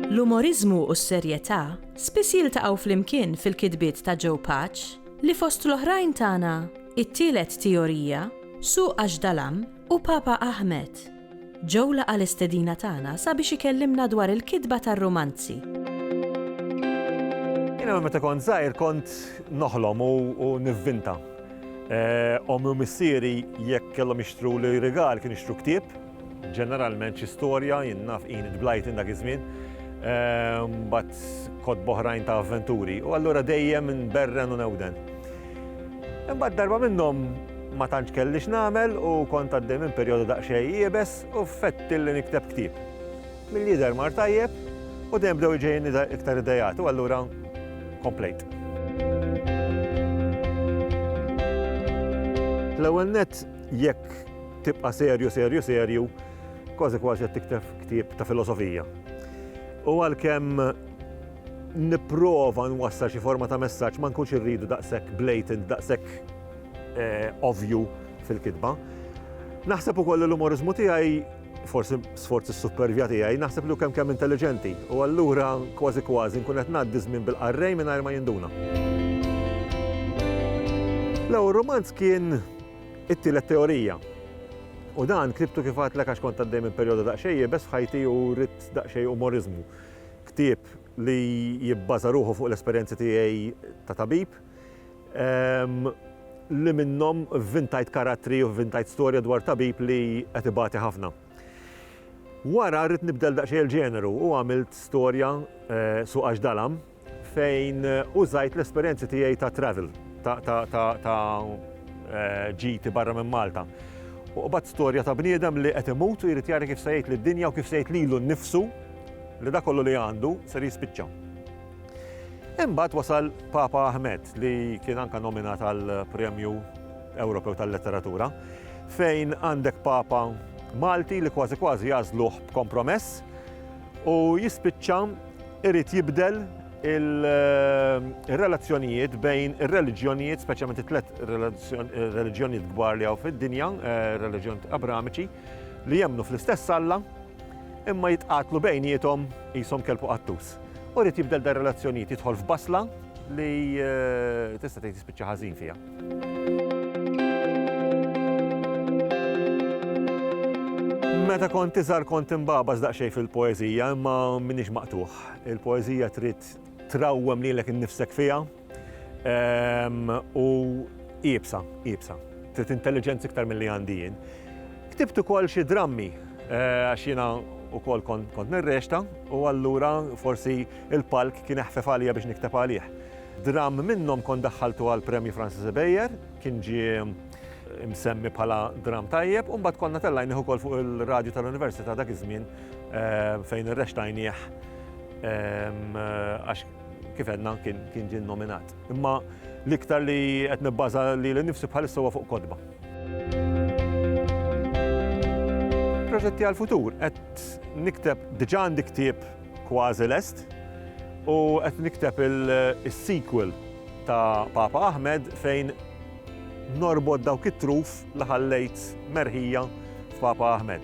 L-umoriżmu u s-serjetà spiss jiltaqgħu flimkien fil-kitbiet ta' Joe Pace, li fost l-oħrajn tana It-Tielet Teorija, Suq Għax Dalam u Papa Ahmed. Joe laqa' l-istedina tagħna sabiex ikellimna dwar il-kitba tar-rumanzi. Jiena minn meta kont żgħir kont noħlom u nivvinta. Ommi u missieri jekk kellhom jixtruli rigal kienu jixtru ktieb, ġeneralment xi storja, jien naf Enid Blyton dak iż-żmien, mbagħad kotba oħrajn ta' avventuri u allura dejjem inberren u newden. Imbagħad darba minnhom ma tantx kelli x'nagħmel u kont għaddej minn perjodu daqsxejn iebes u fettilli nikteb ktieb. Milli jidher mar tajjeb u dejjem bdew iġejjinni iktar ideat u allura komplejt. L-ewwel nett jekk tibqa' serju serju serju kważi kważi qed tikteb ktieb ta' filosofija. U għalkemm nipprova nwassal xi forma ta' messaġġ ma nkunx irridu daqshekk blatant, daqshekk ovvju fil-kitba. Naħseb ukoll li l-umoriżmu tiegħi, forsi sforzi s-supervja tiegħi, naħseb li hu kemm kemm intelliġenti u allura kważi kważi nkun qed ngħaddi żmien bil-qarrej mingħajr ma jinduna. L-ewwel rumanz kien It-Tielet Teorija u dan ktibtu kif għedtlek għax kont għaddej minn perjodu daqsxejn iebes f'ħajti u rrid daqsxejn umoriżmu. Ktieb li jibbaża ruħu fuq l-esperjenzi tiegħi ta' tabib, li minnhom vvintajt karattri u vvintajt storja dwar tabib li qed ibati ħafna. Wara ridt nibdel daqsxejn il-ġeneru u għamilt storja, Suq Għax Dalam, fejn użajt l-esperjenzi tiegħi ta' travel, ta' ġiti barra minn Malta. U qbadt storja ta' bniedem li qed imut u jrid jara kif se jgħid lid-dinja u kif se jgħid lilu nnifsu, li dak kollu li għandu ser jispiċċa. Imbagħad wasal Papa Ahmed li kien anke nominat għal Premju Ewropew tal-Letteratura fejn għandek Papa Malti li kważi kważi jażluh b'kompromess u jispiċċa irid jibdel il-relazzjonijiet eh, bejn il-reliġjonijiet, speċjalment it-tlet reliġjonijiet kbar li għaw fid-dinja, eh, reliġjonijiet abramiċi, li jemnu fl-istess Alla, Imma jitqatlu bejniethom qishom kelb u qattus. U jrid jibdel dar-relazzjonijiet jidħol f'basla li tista' tgħid jispiċċa ħażin fiha. Meta kont iżgħar kont imbagħbaż daqsxejn fil-poeżija imma m'iniex maqtugħ. Il-poeżija trid trawwem lilek innifsek fiha, U iebsa, iebsa. Trid intelliġenza iktar milli għandi jien. Ktibt ukoll xi drammi għax jiena wkoll kont nirrexta u allura forsi l-palk kien eħfef għalija biex nikteb għalih. Dramm minnhom kont daħħaltu għall-Premju Francis Ibejer, kien ġie msemmi bħala dramm tajjeb, u mbagħad konna tellajnih ukoll fuq ir-radju tal-Università dak iż-żmien fejn irrextajnih għax Kif għedna, kien ġie nnominat. Imma l-iktar li qed nibbaża lili nnifsi bħalissa huwa fuq kotba. proġetti għal-futur. Qed nikteb diġà għandi ktieb kważi lest u qed nikteb il-sequel ta' Papa Ahmed fejn norbod dawk it-truf li ħallejt merħija f'Papa Ahmed.